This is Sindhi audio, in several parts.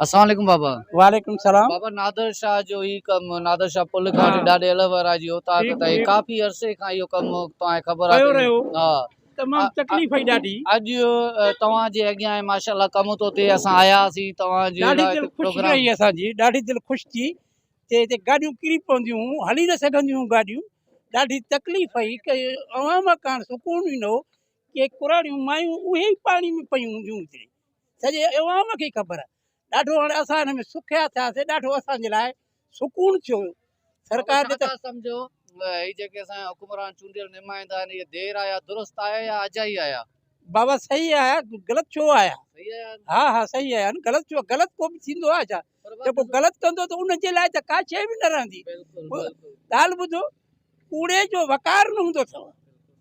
اسلام عليڪم بابا. وعليڪم سلام. بابا نادر شاھ جو ھي ڪم نادر شاھ پل کان وٺي ڏاڏي الھوارا جي اوطاق تائين ڪافي عرصي کان اھو ڪم توھان کي خبر آھي ھا تمام تڪليف ھئي ڏاڍي اڄ توھان جي اڳيان ھي ماشاءالله ڪم تو ٿئي اسان آيا ھاسين توھان جي ڏاڍي دل خوش رھي اسان جي ڏاڍي دل خوش ٿي تي ھتي گاڏيون ڪري پونديون ھون ھلي نه سگھنديون ھون گاڏيون ڏاڍي تڪليف ھئي ڪي عوام ڪاڻ سڪون ئي نه ھو ڪي ڪراڙيون مايون اهي ئي پاڻي ۾ پيون هونديون هجڻي سڄي عوام کي خبر آهي ڏاڍو هاڻي اسان هن ۾ سکيا ٿياسي ڏاڍو اسان جي لاء سڪون ٿيو سرڪار جو ته سمجهو هي جيڪي اسان حڪمران چونڊيل نمائندا آهن هي دير آيا درست آيا يا اجائي آيا بابا صحيح آيا غلط ڇو آيا صحيح آيا ها ها صحيح آيا غلط ڇو غلط ڪو به ٿيندو آهي ڇا جيڪو غلط ڪندو ته ان جي لاء ته ڪا شيء به نه رهندي ڳالهه ٻڌو ڪوڙي جو وقار نه هوندو اٿئو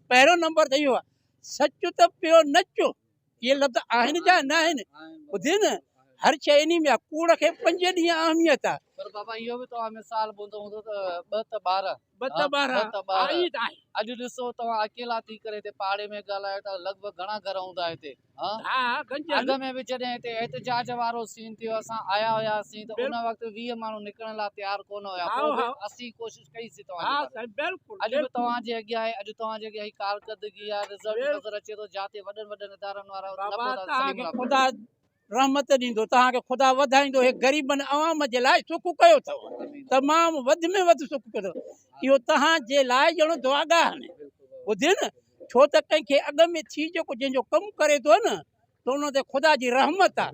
پهريون نمبر ته اهو آهي سچ ته پيو نچو اهي لفظ آهن جا نه آهن ٻڌي نه هر شيء انهي ۾ آهي ڪوڙ کي پنج ڏينهن اهميت آهي پر بابا اهو به توهان مثال ٻڌو هوندو ته ٻه ته ٻارهن ٻه ته ٻارهن ته ٻارهن اڄ ڏسو توهان اڪيلا ٿي ڪري هتي پاڙي ۾ ڳالهايو ٿا لڳ ڀڳ گهڻا گهر هوندا هتي اڳ ۾ به جڏهن هتي احتجاج وارو سين ٿيو اسان آيا هياسين ته ان وقت ويهه ماڻهو نڪرڻ لاء تيار ڪونه هيا پوء به اسين ڪوشش ڪئي سين توهان جي باري اڄ به توهان جي اڳيان آهي اڄ توهان جي اڳيان هي ڪارڪردگي آهي رزلٽ نظر اچي ٿو جاتي وڏن وڏن ادارن وارا نه پهتا سليم الله خدا رحمت ڏيندو توهان کي خدا وڌائيندو هي غريبن عوام جي لاء سک ڪيو اٿو تمام وڌ ۾ وڌ سک ڪيو اٿو اهو توهان جي لاء ڄڻو دعاگاهه آهن ٻڌيو نه ڇو ته ڪنهن کي اڳ ۾ ٿي جيڪو جنهن جو ڪم ڪري ٿو نه ته ان تي خدا جي رحمت آ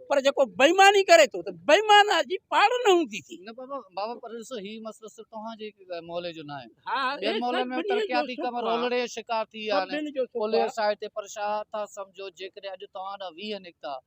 پر جيڪو بيماني ڪري ٿو ته بيمانه جي پاڙ نه هوندي ٿي نه بابا بابا پر ڏسو هي مسئلو صرف توهان جي مولي جو نه آهي ها ٻين مولي ۾ ترقياتي ڪم رولڙي جو شڪار ٿي ويا آهن پوليس آهي تي پر شاهه ٿا سمجهو جيڪڏهن اڄ توهان ڏانهن 20 نڪتا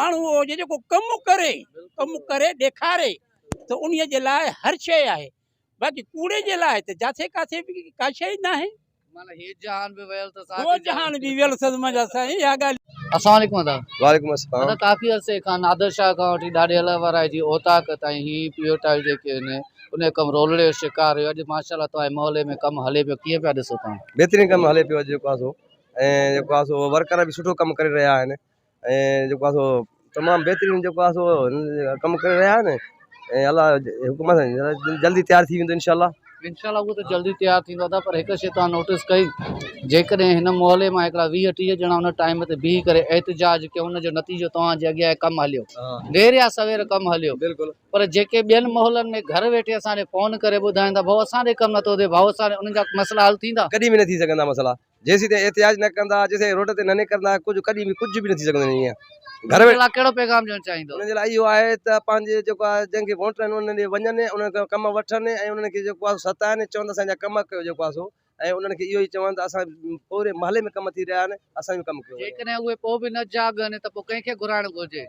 ماڻهو اهو هجي جيڪو ڪم ڪري ڪم ڪري ڏيکاري ته ان جي لاء هر شيء آهي باقي ڪوڙي جي لاء ته جاٿي ڪاٿي به ڪا شيء ئي ناهي هو جهان به ويل اٿس منهنجا سائين اها ڳالهه السلام عليڪم ادا وعليڪم السلام ادا ڪافي عرصي کان نادر شاهه کان وٺي ڏاڏي الله وارائي جي اوطاق تائين هي پيو ٽائل جيڪي آهن ان جو ڪم رولڙي جو شڪار هيو اڄ ماشاء الله توهان جي محلي ۾ ڪم هلي پيو ڪيئن پيا ڏسو توهان بهترين ڪم هلي پيو اڄ جيڪو آهي سو ۽ جيڪو آهي سو ورڪر به سٺو ڪم ڪري رهيا آهن ۽ جيڪو آهي سو تمام بهترين جيڪو آهي سو ڪم ڪري رهيا آهن ۽ الله جي حڪم سان جلدي تيار ٿي ويندو انشاء الله انشاء الله هو ته جلدي تيار ٿيندو ادا پر هڪ شي تان نوٽس ڪئي جيڪڏهن هن محلي مان هڪڙا ويهه ٽيهه ڄڻا ان ٽائيم تي بيهي ڪري احتجاج ڪيو ان جو نتيجو توهان جي اڳيان ڪم هليو دير يا سوير ڪم هليو بلڪل پر جيڪي ٻين محلن ۾ گهر ويٺي اسان کي فون ڪري ٻڌائين ٿا ڀاء اسان ڏي ڪم نٿو ٿئي ڀاء اسان ڏي انهن جا مسئلا حل ٿيندا ڪڏهن به نه ٿي سگهندا مسئلا جيسيتائين احتجاج نه ڪندا جيسيتائين روڊ تي نه نڪرندا ڪجهه ڪڏهن به ڪجهه به نه ٿي سگهندو آهي ائين گهر ۾ ڪهڙو پيغام ڏيڻ چاهيندو انهن جي لاء اهو آهي ته پنهنجي جيڪو آهي جن کي ووٽ آهن انهن ڏي وڃن انهن کان ڪم وٺن ۽ انهن کي جيڪو آهي ستائن چون ته اسان جا ڪم ڪيو جيڪو آهي سو ۽ انهن کي اهو ئي چون ته اسان پوري محلي ۾ ڪم ٿي رهيا آهن اسان جو ڪم ڪيو وڃي جيڪڏهن اهي پوء به نه جاڳن ته پوء ڪنهن کي گهرائڻ گهرجي.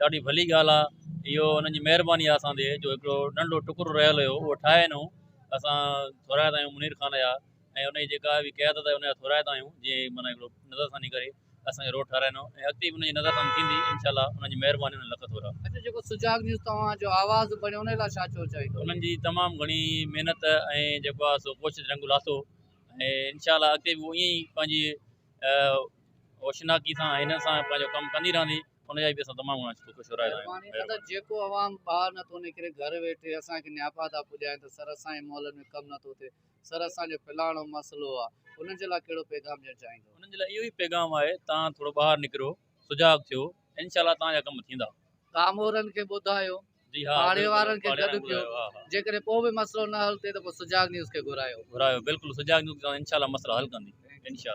ڏاڍي ڀلي ڳالهه آ اهو انهن جي مهرباني آ اسان تي جو هڪڙو ننڍڙو ٽڪرو رهيل هيو اهو ٺاهي انهون اسان ٿورائتا آهيون منير خان جا ۽ انهن جي جيڪا به قيادت آهي ان جا ٿورائتا آهيون جيئن هي معنيٰ هڪڙو نظر ثاني ڪري اسان کي روڊ ٺهرائيندو ۽ اڳتي به انهن جي نظر ثاني ٿيندي انشاء الله انهن جي مهرباني انهن لک ٿورا. اچو جيڪو سجاڳ نيوز توهان جو آواز بڻيو ان لاء ڇا چوڻ چاهيندو. انهن جي تمام گهڻي محنت ۽ جيڪو آ سو ڪوشش رنگ لاٿو ۽ انشاء الله اڳتي به هو ائين ئي پنهنجي اوشناڪي سان ۽ هنن سان پنهنجو ڪم ڪندي رهندي. ان جا به اسان تمام گهڻا شڪر شڪر آهيون مهرباني قدر جيڪو عوام ٻاهر نه ٿو نڪري گهر ويٺي اسان کي نياپا ٿا پڄائين ته سر اسان جي مئل ۾ ڪم نه ٿو ٿئي سر اسان جو فلاڻو مسئلو آ انهن جي لاء ڪهڙو پيغام ڏيڻ چاهيندو. انهن جي لاء اهو ئي پيغام آهي توهان ٿورو ٻاهر نڪريو سجاڳ ٿيو انشاء الله توهان جا ڪم ٿيندا. ڪامورن کي ٻڌايو جي ها پاڙي وارن کي گڏ ڪيو جيڪڏهن پوء به مسئلو نه حل ٿئي ته پوء سجاڳ نيوز کي گهرايو گهرايو بلڪل سجاڳ نيوز انشاء الله مسئلا حل ڪندي انشاء الله.